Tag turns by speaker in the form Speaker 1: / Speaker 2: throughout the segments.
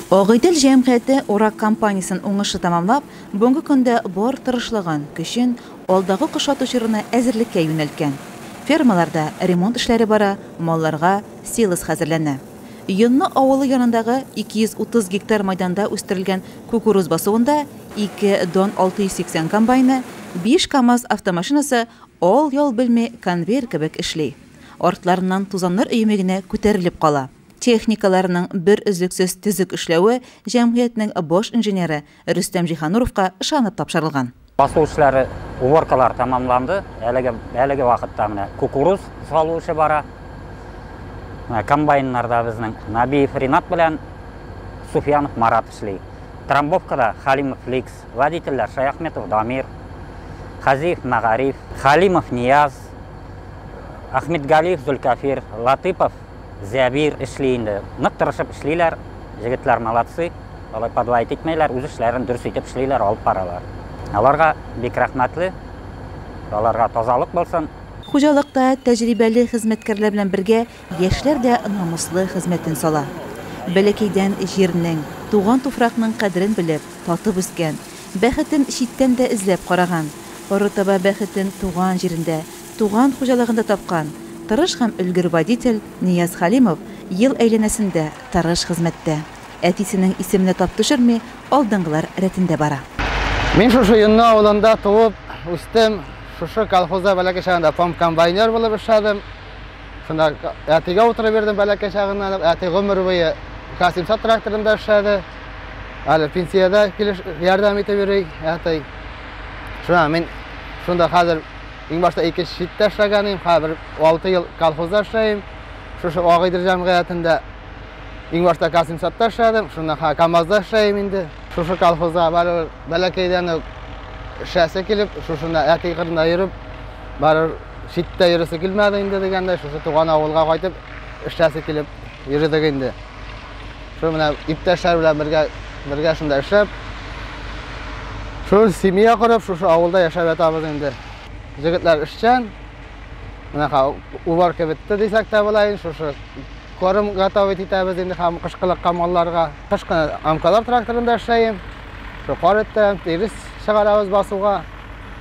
Speaker 1: Агыйдел җәмгыяте урак кампаниясен уңышлы тәмамлап, бүгенге көндә бар тырышлыгын, көчен алдагы кыш ату чорына әзерлеккә юнәлткән. Фермаларда ремонт эшләре бара, малларга силос хәзерләнә. Йонны авылы янындагы 230 гектар мәйданда үстерелгән кукуруз басуында ике Дон 680 комбайны, биш КАМАЗ автомашинасы ал-ял белми конвейер кебек эшли. Артларыннан тузаннар өеме генә күтәрелеп кала. Техникаларның бер өзлексез төзек эшләве җәмгыятьнең баш инженеры Рөстәм Җиһануровка ышанып тапшырылган. Басу эшләре,
Speaker 2: уборкалар тәмамланды. Әлеге, әлеге вакытта менә кукуруз салу эше бара. Менә комбайннарда безнең Набиев Ринат белән Суфьянов Марат эшли. Трамбовкада Халимов Ликс, водительләр Шаяхметов Дамир, Хәзиев Мәгариф, Халимов Нияз, Әхмитгалиев Зөлкәфир, Латыпов Зәбир эшли инде. Нык тырышып эшлиләр, җегетләр молодцы, алай подлаять итмәйләр, үз эшләрен дөрес итеп эшлиләр, алып баралар. Аларга бик рәхмәтле, аларга тазалык булсын. Хуҗалыкта
Speaker 1: тәҗрибәле хезмәткәрләр белән бергә Яшьләр дә намуслы хезмәтен сала. Бәләкәйдән җирнең, туган туфракның кадерен белеп, татып үскән, бәхетен читтән дә эзләп караган, арытаба бәхетен туган җирендә, туган хуҗалыгында тапкан, тырыш һәм өлгер водитель Нияз Хәлимов ел әйләнәсендә тырыш хезмәттә. Әтисенең исеменә тап төшерми, алдынгылар рәтендә бара. Мин шушы
Speaker 3: Йонны авылында туып, үстем. Шушы колхозда бәләкәй чагында апам комбайнер булып эшләдем. Шунда әтигә утырып бирдем бәләкәй чагыннан. Әти гомер буе Касимсат тракторында эшләде. Әле пенсиядә килеш ярдәм итеп йөри әти. Шуңа мин шунда хәзер иң башта ике читтә эшләгән идем, хәзер 6 ел колхозда эшләйм. Шушы Агыйдер җәмгыятендә иң башта Касимсатта эшләдем, шуннан хәзер КАМАЗда эшләйм инде. Шушы колхозда бәләкәйдән үк эшләсе килеп, шушында әти кырында йөреп, барып читтә йөресе килмәде инде дигәндәй, шушы туган авылга кайтып эшләсе килеп йөрдек инде. Шул менә иптәшләр белән бергә бергә шунда эшләп, шул семья корып, шушы авылда яшәп ятабыз инде. Җегетләр эшчән. Менә уборка бетте дисәк тә була инде, шушы корм готовить итәбез инде һәм кышкылыкка малларга. Кыш кына амкалар тракторында эшләйм. Шул кар иттем, тирес чыгарабыз басуга.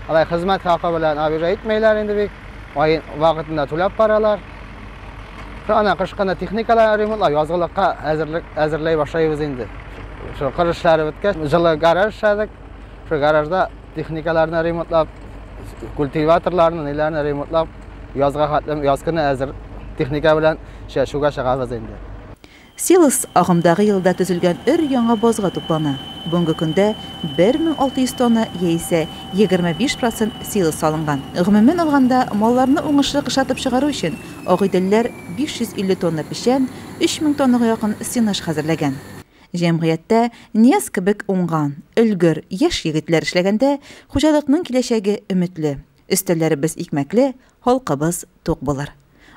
Speaker 3: Алай хезмәт хакы белән обижа итмәйләр инде бик. Ай вакытында түләп баралар. Ана кышкына техникалар ремонтлау, язгылыкка әзерлек әзерләй башлыйбыз инде. Шул кыр эшләре беткәч, җылы гараж эшләдек. Шул гаражда техникаларны ремонтлап, культиваторларны, ниләрне ремонтлап, язга хәтлем яз көне әзер техника белән чәчүгә чыгабыз инде. Силос
Speaker 1: агымдагы елда төзелгән өр-яңа базга туплана. Бүгенге көндә 1600 тонна яисә 25 процент силос салынган. Гомумән алганда, малларны уңышлы кышлатып чыгару өчен Агыйделләр 550 тонна печән, 3000 тоннага якын сенаж хәзерләгән. Җәмгыятьтә Нияз кебек уңган, өлгер, яшь егетләр эшләгәндә, хуҗалыкның киләчәге өметле. Өстәлләребез икмәкле, халкыбыз тук булыр.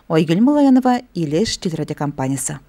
Speaker 1: Айгөл Малаянова, Илеш телерадиокомпаниясе.